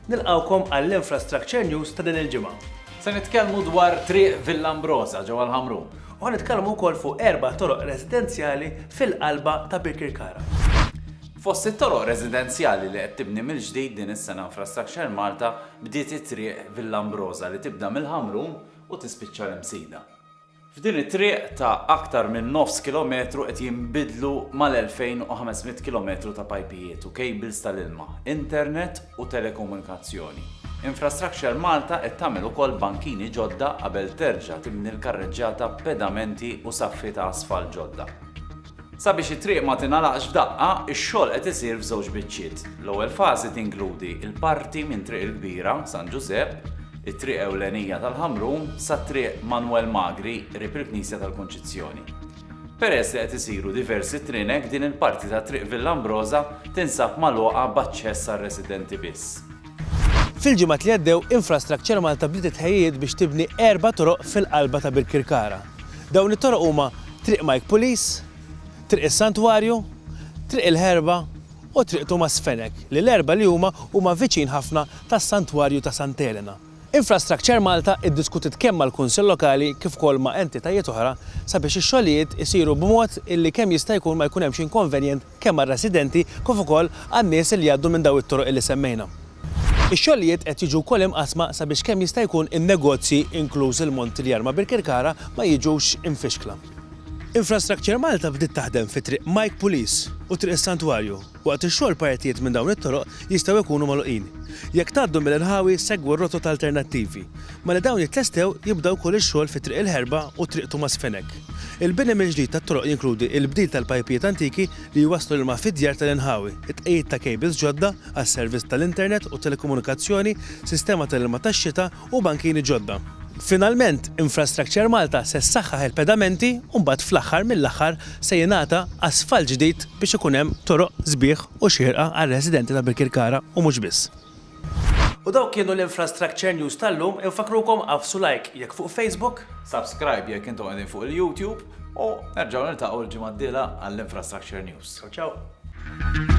Nilqgħukom għall-Infrastructure News ta' din il-ġimgħa. Se nitkellmu dwar Triq Villa Ambrosa ġewwa l-Ħamrun. U nitkellmu wkoll fuq erba' toroq residenzjali fil-qalba ta' Birkirkara. Fost it-toroq residenzjali li qed tibni mill-ġdid din is-sena Infrastructure Malta bdiet it-triq Villa Ambrosa li tibda mill-Ħamrun u tispiċċa l-Imsida. F'din it-triq ta' aktar minn nofs kilometru qed jinbidlu mal-2,500 kilometru ta' pajpijiet u kejbils tal-ilma, internet u telekomunikazzjoni. Infrastructure Malta qed tagħmel ukoll bankini ġodda qabel terġa' tibni l-karreġġjata b'pedamenti u saffi ta' asfalt ġodda. Sabiex it-triq ma tingħalaqx f'daqqa, ix-xogħol qed isir f'żewġ biċċiet. L-ewwel fażi tinkludi l-parti minn Triq il-Kbira, San Ġużepp, it-triq ewlenija tal-Ħamrun, sa Triq Manwel Magri qrib il-Knisja tal-Kunċizzjoni. Peress li qed isiru diversi trinek, din il-parti ta' Triq Villa Ambroża tinsab magħluqa b'aċċess għar-residenti biss. Fil-ġimgħat li għaddew, Infrastructure Malta bdiet it-tħejjijiet biex tibni erba' toroq fil-qalba ta' Birkirkara. Dawn it-toroq huma Triq Mike Pulis, Triq is-Santwarju, Triq il-Ħerba u Triq Tumas Fenech li l-erbgħa li huma huma viċin ħafna tas-Santwarju ta' Santa Elena. Infrastructure Malta iddiskutiet kemm mal-Kunsill Lokali kif ukoll ma' entitajiet oħra sabiex ix-xogħlijiet isiru b'mod illi kemm jista' jkun ma jkun hemmx inkonvenjent kemm għar-residenti kif ukoll għan-nies li jgħaddu minn dawn it-toroq li semmejna. Ix-xogħlijiet qed jiġu wkoll imqassma sabiex kemm jista' jkun in-negozji, inkluż il-Montilyar ma' Birkirkara, ma jiġux imfixkla. Infrastructure Malta bdiet taħdem fi Triq Mike Pulis u Triq is-Santwarju. Waqt ix-xogħol partijiet minn dawn it-toroq jistgħu jkunu magħluqin. Jekk tgħaddu mill-inħawi segwu r-rotot alternattivi. Malli dawn jitlestew jibda wkoll ix-xogħol fi Triq il-Ħerba u Triq Tumas Fenech. Il-bini mill-ġdid tat-toroq jinkludi l-bdil tal-pajpijiet antiki li jwasslu l-ilma fid-djar tal-inħawi, it-tqegħid ta' kejbils ġodda għas-servizz tal-internet u t-telekomunikazzjoni, sistema tal-ilma tax-xita u bankini ġodda. Finalment, Infrastructure Malta se ssaħħaħ il-pedamenti u mbagħad fl-aħħar mill-aħħar se jingħata asfalt ġdid biex ikun hemm toroq sbieħ u xierqa għar-residenti ta' Birkirkara u mhux biss. U dawk kienu l-Infrastructure News tal-lum, infakkrukom għafsu like jekk fuq Facebook, subscribe jekk intom qegħdin fuq il-YouTube u nerġgħu niltaqgħu l-ġimgħa d-dieħla għall-Infrastructure News. Ciao ciao!